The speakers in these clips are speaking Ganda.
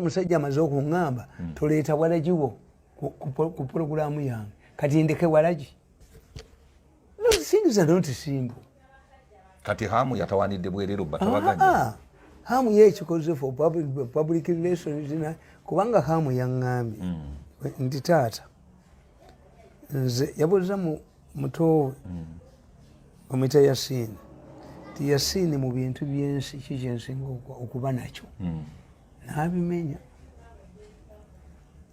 omusajja amaze okungamba hmm. toleeta walagi wo ku pulogulaamu yange kati ndeke walagi nosinza notisimbu kati hamu yatawanidde bwerero batabaganya ah, ah. hamu yekikoze for public relations na kubanga hamu yaŋŋambye hmm. nti taata nze yabuuza mu mutowe omwita yasini ti yasini mu bintu byensi kikyensinga okuba nakyo hmm. nabimenya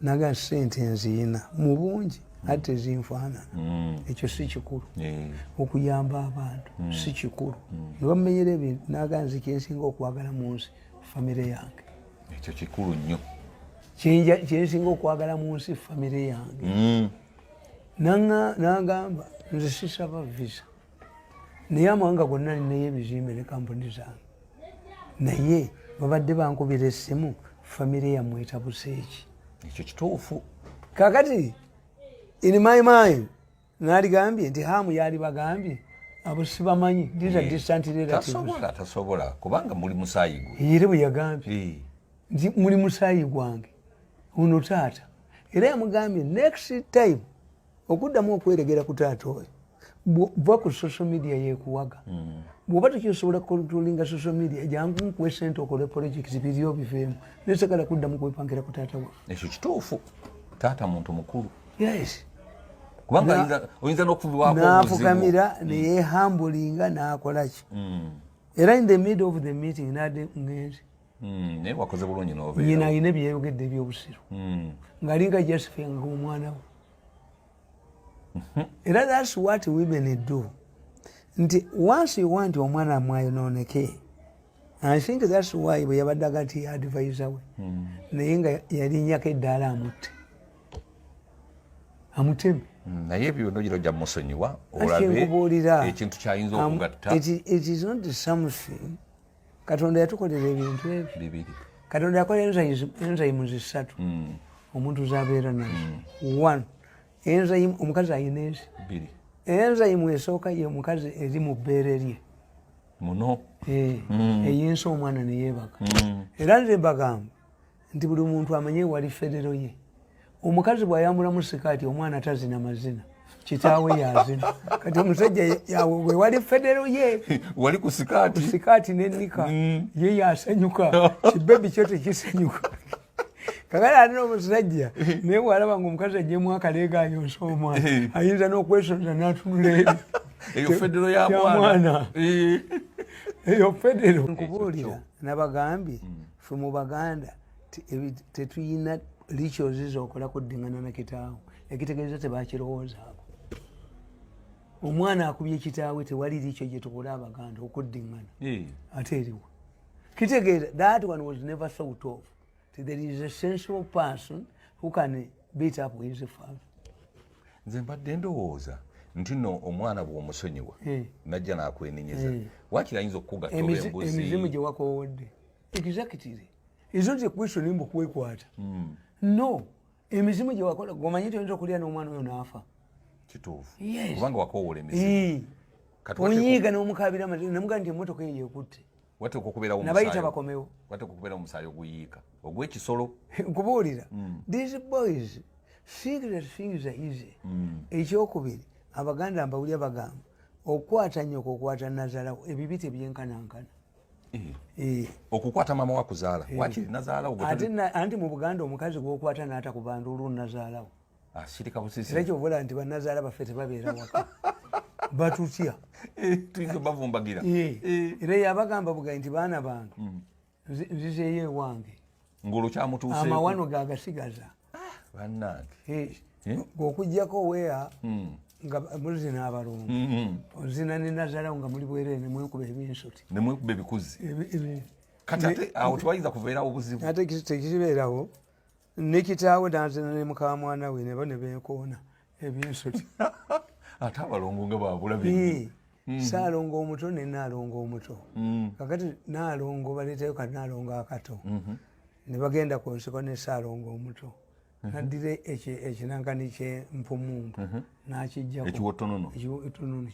naga sente nziyina mu bungi hmm. ate ezinfaanana hmm. ekyo si kikulu eh. okuyamba abantu si kikulu nebamumenyera ebintu naga nze kyensinga okwagala mu nsi famire yange ekyo kikulu nnyo kyensinga okwagala mu nsi famire yange nagamba nze sisaba visa naye amawanga gonna ninayo ebizimbe ne kampuni zange naye babadde bankubira essimu famire yammwe etabuseeki ekyo kituufu kakati in my mind naligambye nti hamu yali bagambye abo sibamanyi these are eh, distant relatives tasobola tasobola kubanga muli musayi gwe yire bwe yagambye eh. nti muli musaayi gwange ono taata era yamugambye next time okuddamu okweregera ku taata oyo va ku social media yekuwaga mm. bwoba tekyosobola kukontrolinga social media jangu nkuwe sente okole project biriyo biveemu nesagala kuddamu kwepangira ku taata wa ekyo kituufu taata muntu mukulu yes kubanga oyinza nokufukamira mm. neyehambulinga nakolaki mm. era in the middle of the meeting nade ngenzi Hmm, naye wakoze bulungi nobeera nyina alina ebyeyogedde ebyobusiru hmm. ng'alinga josephine nga omwana we mhm. era thats what women do nti once you want omwana mwayonooneke i think thats why bwe yabadde aga nti advisa we hmm. naye nga yalinyako eddaala amutte amuteme naye ebyo nogira ojja musonyiwa olabe ekintu kyayinza okugatta katonda yatukolera ebintu ebyo katonda yakola enzayimu zisatu hmm. omuntu zabeera nazo hmm. one enzayimu omukazi ayina ezi enzayimu esooka ye omukazi eri mu bbeere lye muno eh, hmm. eyinsa omwana neyebaka era nze bagamba nti buli muntu amanye wali federo ye omukazi bwayambula musikaati omwana tazina mazina kitaawe yazina kati omusajja yawe wali federo ye wali ku sikaati sikaati nenika mm. ye yasanyuka kibebi kyo tekisanyuka kakati ate nomusajja naye walaba nga omukazi ajemu akaleega ayonsa omwana eh. ayinza nokwesonza natunula ebyo eyo federo ya mwana eh. eyo federo nkubuulira nabagambye mm. fe mu baganda tetuyina rituals zokola kuddingana na kitaawo ekitegeeza tebakirowoozaako omwana akubye kitaawe tewali rikyo gyetukola abaganda okuddingana ate eriwo kitegeeza that one was never thought of there is a sensible person who can beat up his father nze mbadde ndowooza nti no omwana bwomusonyiwa eh. najja nakwenenyeza eh. wakirayinza okukugaemizimu gyewakowodde exactly is not a question mbu kwekwata mm. no emizimu gye wakola gomanyi nti oyinza okulya n'omwana oyo n'afa kituufukubanga wakowoola emizimu onyiiga n'omukabira amazima namugaa nti emotoka eyo yekutte wateeka okubeerawo nabayita bakomewo wateeka okubeerawo omusaayi oguyiika ogw'ekisolo nkubuulira mm. these boys think that things are easy mm. ekyokubiri abaganda mbawulya bagamba okukwata nyoko okukwata nazalawo ebibi tebyenkanankana Eh. Eh. okukwata mama wakuzaala eh. wakiri nazaalawo anti mu buganda omukazi gwokwata naata ku bantu olwo nazaalawo ah, sirika busisi era kyobola nti banazaala baffe tebabeera waka batutya tuyinza obavumbagira era yabagamba bugai nti baana bange hmm. nzizeeyo ewange ngolwo kyamutuuse amawano gagasigaza ah, bannange eh, eh? okujjako weya hmm. nga muzina abalongo hmm. ozina ne nazalawo nga muli bwerere nemwekuba ebinsuti nemwekuba ebikuzi kati ate awo tebayinza kuveerawo obuzibu ate tekibeerawo nekitaawe nazina ne mukamwana we nebo nebekoona ebyensoti ate abalongo nga babula mm-hmm. saalongo omuto ne naalongo omuto mm. kakati naalongo baleetayo ka naalongo akato mm-hmm. ne bagenda ku nsiko ne saalongo omuto mm-hmm. naddira ekinankani kye mpumumpu nakijjaekiwotononoekiwotonono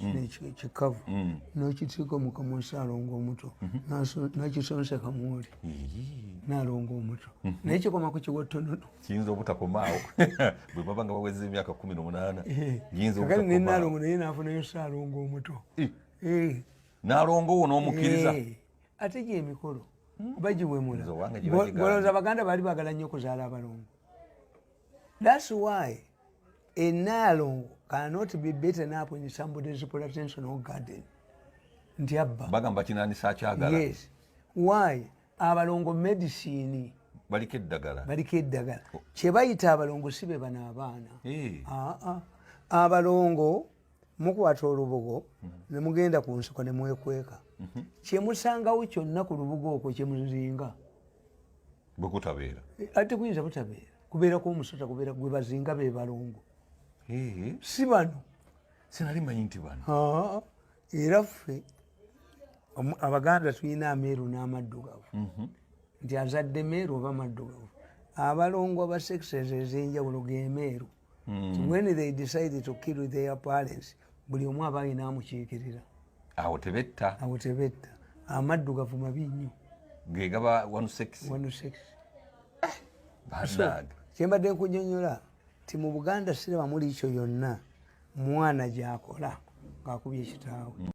kikavu mm. nokitiiko mukamu saalongo omuto nakisonseka mwoli naalongo omuto naye kikoma ku kiwotonono kiyinza obutakomaawo bwe baba nga baweza emyaka kumi nomunaana eh, yinzakale nenalongo naye nafunayo saalongo omuto eh. Eh. nalongo wo nomukiriza ate gyemikolo hmm. bagiwemulagoloza baganda baali bagala nnyo okuzaala abalongo thats why enaalongo cannot be beaten up in somebody's plantation or garden nti abba bagamba kinanisa akyagala yes why abalongo medicine baliko eddagala baliko eddagala oh. kyebayita abalongo si be bano abaana eh. ah, ah. abalongo mukwata olubugo mhm. nemugenda ku nsiko nemwekweka mhm. kyemusangawo kyonna ku lubugo okwo kyemuzinga bwekutabeera eh, ate kuyinza butabeera kubeerako omusota kubeera gwebazinga bebalongo eh. si bano sinali manyi nti bano ah, era ffe abaganda tulina ameeru n'amaddugavu mhm. nti azadde meeru oba maddugavu abalongo aba sexes ezenjawulo gemeeru mm. when they decide to kill their parents buli omu aba alina amukiikirira awo tebetta awo tebetta amaddugavu mabi nnyo gegaba one sex one sex eh, kyembadde nkunyonyola ti mu buganda siraba muliikyo yonna mwana gyakola ng'akubye kitaawe